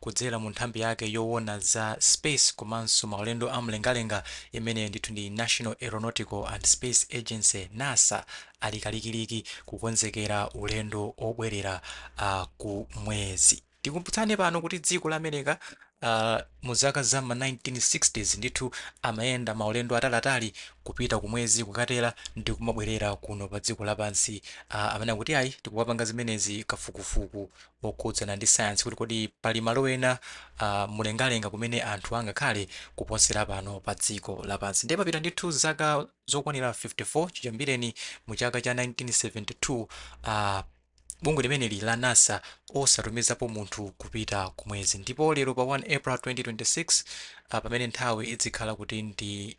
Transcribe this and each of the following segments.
Kudzera mu nthambi yake yowona za Space komanso maulendo a mlengalenga imene ndithu ndi National Aeronautical and Space Agency, NASA, ali kalikiliki kukonzekera ulendo obwerera a ku mwezi. Tikumbutsane pano kuti dziko la Amereka a mu zaka za m'ma 1960's ndithu amayenda maulendo atali atali kupita ku mwezi kukatera ndi kumabwerera kuno pa dziko lapansi a amene akuti ayi tikukapanga zimenezi kafukufuku wokhudzana ndi sayansi kuti kodi pali malo ena a mlengalenga kumene anthu angakhale kuposera pano pa dziko lapansi. Ndiye papita ndithu zaka zokwanira 54 chiyambireni mu chaka cha 1972 a bungwe limeneli la NASA osatumizapo munthu kupita ku mwezi ndipo lero pa 1 April 2026 a pamene nthawi idzikhala kuti ndi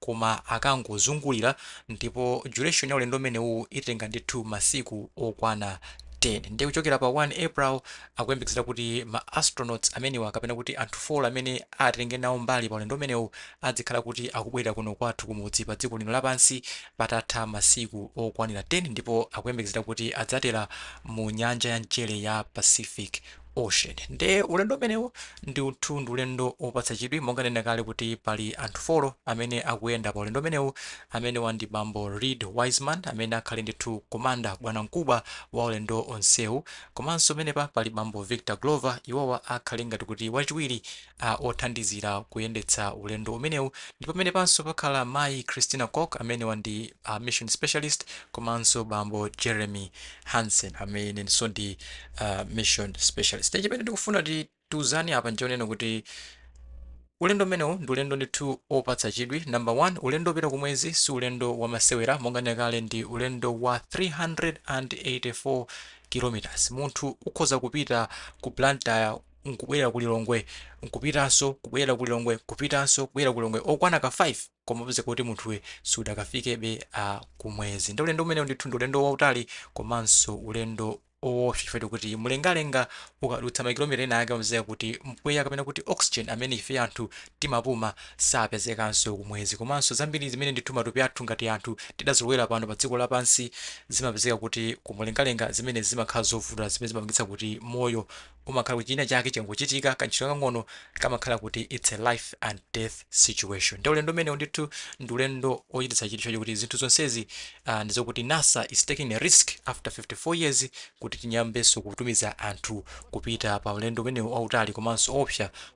koma akangozungulira ndipo duration ya ulendo umenewu itenga ndithu masiku okwana 10 ndiye kuchokera pa 1 April akuyembekezera kuti ma astronauts amenewa kapena kuti anthu 4 amene atenge nawo mbali pa ulendo umenewu adzikhala kuti akubwerera kuno kwathu kumudzi pa dziko lino lapansi patatha masiku okwanira 10 ndipo akuyembekezera kuti adzatera mu nyanja ya mchere ya Pacific Ocean. Nde ulendo umenewu ndithu ndi ulendo opatsa chidwi monga nanena kale kuti pali anthu folo amene akuyenda pa ulendo umenewu amenewa ndi bambo Reed Wiseman amene akhale ndithu komanda bwana mkubwa wa ulendo onsewu komanso penepa pali bambo Victor Glover iwowa akhale ngati kuti wachiwiri a othandizira kuyendetsa ulendo umenewu ndipo penepanso pakhala mayi Christina Koch amenewa ndi a mission specialist komanso bambo Jeremy Hansen amenenso ndi a mission specialist nde chimene tikufuna kuti tiuzane apa nchonena kuti Ulendo umenewu ndi ulendo ndithu opatsa chidwi. Number one, ulendo opita kumwezi si ulendo wamasewera monga nena kale ndi ulendo wa 384 kilometers. Munthu ukhoza kupita ku Blantyre nkubwera ku Lilongwe, nkupitanso, kubwerera ku Lilongwe, nkupitanso, kubwerera ku Lilongwe, okwana ka 5, koma upezeka kuti munthuwe sudakafikebe a kumwezi. Nde ulendo umenewu ndithu ndi ulendo wautali komanso ulendo owopsa chifukwa chokuti mlengalenga ukadutsa makilomita ena ake umapezeka kuti mpweya kapena kuti oxygen amene ife anthu timapuma sapezekanso kumwezi. Komanso zambiri zimene ndithu matupi athu ngati anthu tidazolowera pano pa dziko lapansi zimapezeka kuti ku mlengalenga zimenezi zimakhala zovuta zimene zimapangitsa kuti moyo umakhala kuti chinachake chikangochitika, kantchito kakang'ono kamakhala kuti it's a life and death situation. Nde ulendo umenewu ndithu ndi ulendo ochititsa chidwi chifukwa chokuti zinthu zonsezi ah, ndi zokuti NASA is taking a risk after 54 years kuti tiyambenso kutumiza anthu kupita pa ulendo umenewu wautali komanso oopsa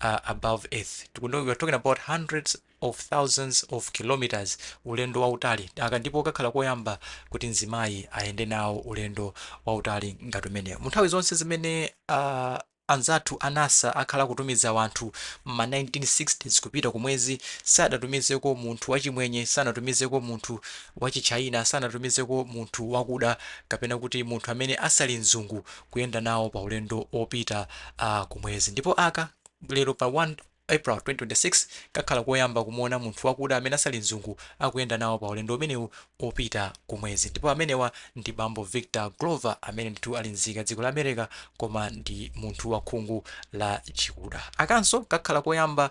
above earth we are talking about hundreds of thousands of kilometers ulendo wautali aka ndipo kakhala koyamba kuti mzimayi ayende nawo ulendo wautali ngati umenewu mu nthawi zonse zimene uh, anzathu a nasa akhala kutumiza wanthu mma 1960s kupita kumwezi sadatumizeko munthu wachimwenye sanatumizeko munthu wachichayina sanatumizeko munthu wakuda kapena kuti munthu amene asali mzungu kuyenda nawo pa ulendo opita a ku mwezi ndipo aka lero pa 1 April 2026 kakhala koyamba kumuona munthu wakuda amene asali mzungu akuyenda nawo pa ulendo umenewu opita ku mwezi ndipo amenewa ndi bambo Victor Glover amene ndithu ali nzika ya dziko la America koma ndi munthu wa khungu la chikuda akanso kakhala koyamba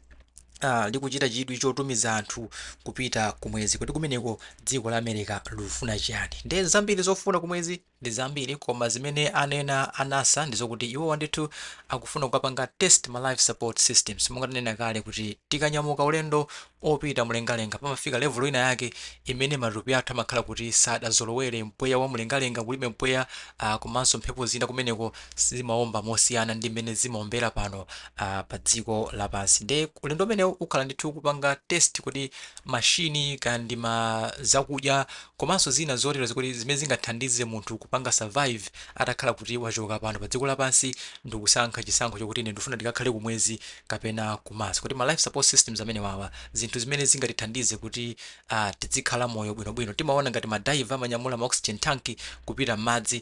uh, likuchita chidwi chotumiza anthu kupita kumwezi kodi kumeneko dziko la america likufuna chiyani nde zambiri zofuna kumwezi ndi zambiri koma zimene anena anasa ndizokuti iwowa ndithu akufuna kukapanga test ma life support systems monga tanena kale kuti tikanyamuka ulendo opita mlengalenga pamafika level ina yake imene matupi athu amakhala kuti sadazolowere mpweya wa mlengalenga kulibe mpweya uh, komanso mphepo zina kumeneko zimaomba mosiyana ndi mmene zimaombera pano a pa dziko lapansi nde ulendo umenewu ukhala ndithu kupanga test kodi machine ka ndi ma zakudya komanso zina zotero zikuti zimene zingathandize munthu kupanga survive atakhala kuti wachoka pano pa dziko lapansi ndikusankha chisankho chokuti ine ndifuna ndikakhale ku mwezi kapena ku Mars kodi ma life support systems amenewawa zinthu zimene zingatithandize kuti uh, tidzikhala moyo bwinobwino timaona ngati ma diver amanyamula ma oxygen tank kupita m'madzi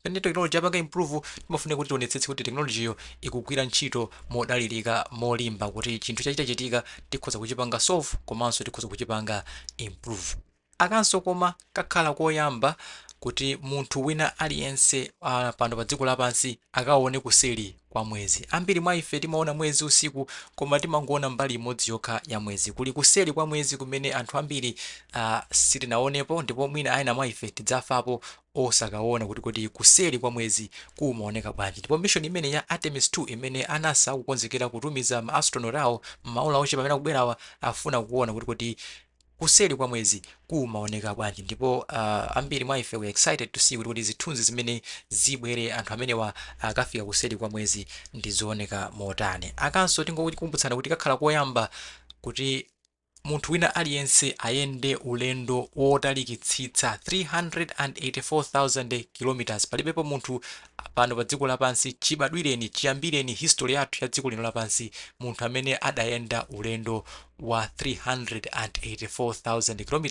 Pamene technology apanga improve, timafunika kuti tionetsetse kuti technology yo ikugwira ntchito modalilika, molimba kuti chinthu chachitachitika tikhoza kuchipanga solve komanso tikhoza kuchipanga improve. Akanso koma kakhala koyamba kuti munthu wina aliyense a pano pa dziko lapansi akaone kuseri kwa mwezi. Ambiri mwa ife timaona mwezi usiku koma timangoona mbali imodzi yokha ya mwezi. Kuli kuseri kwa mwezi kumene anthu ambiri a sitinaonepo ndipo mwina ena mwa ife tidzafapo osakawona kuti kodi kuseri kwa mwezi kumaoneka bwanji. Ndipo mission imeneyi ya Artemis 2 imene a NASA akukonzekera kutumiza ma astronaut awo m'maola ochepa amene akubwerawa afuna kuwona kuti kodi kuseri kwa mwezi kumaoneka bwanji. Ndipo uh, ambiri mwa ife we excited to see kuti kodi zithunzi zimene zibwere anthu amenewa akafika kuseri kwa mwezi ndizooneka motani. Akanso tingokumbutsana kuti kakhala koyamba kuti Munthu wina aliyense ayende ulendo wotalikitsitsa 384,000 km, palibepo munthu pano pa dziko lapansi, chibadwireni, chiyambireni history yathu ya dziko lino lapansi, munthu amene adayenda ulendo wa 384,000 km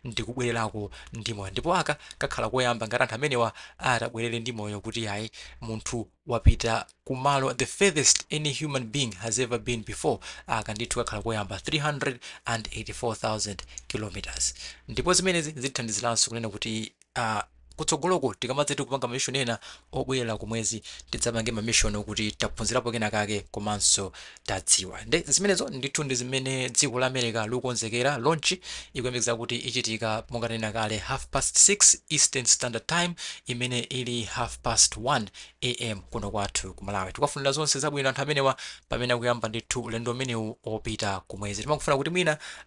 ndi kubwererako ndi moyo. Ndipo aka kakhala koyamba ngati anthu amenewa atabwerere ndi moyo kuti ayi, munthu. wapita Ku malo the furthest any human being has ever been before, aka ndithu kakhala koyamba 384,000 km ndipo zimenezi zithandizilanso kunena kuti aah kutsogoloko tikamadzati kupanga ma mission ena obwelela Ku mwezi tidzapange ma mission okuti taphunzilapo kenakake komanso tadziwa nde zimenezo ndithu ndi zimene dziko la America likukonzekera launch ikuyembekeza kuti ichitika monga tanena kale half past 6 eastern standard time imene ili half past 1 AM kuno kwathu ku Malawi tikuwafunira zonse zabwino anthu amenewa pamene akuyamba ndithu ulendo umenewu opita kumwezi timakufuna kuti mwina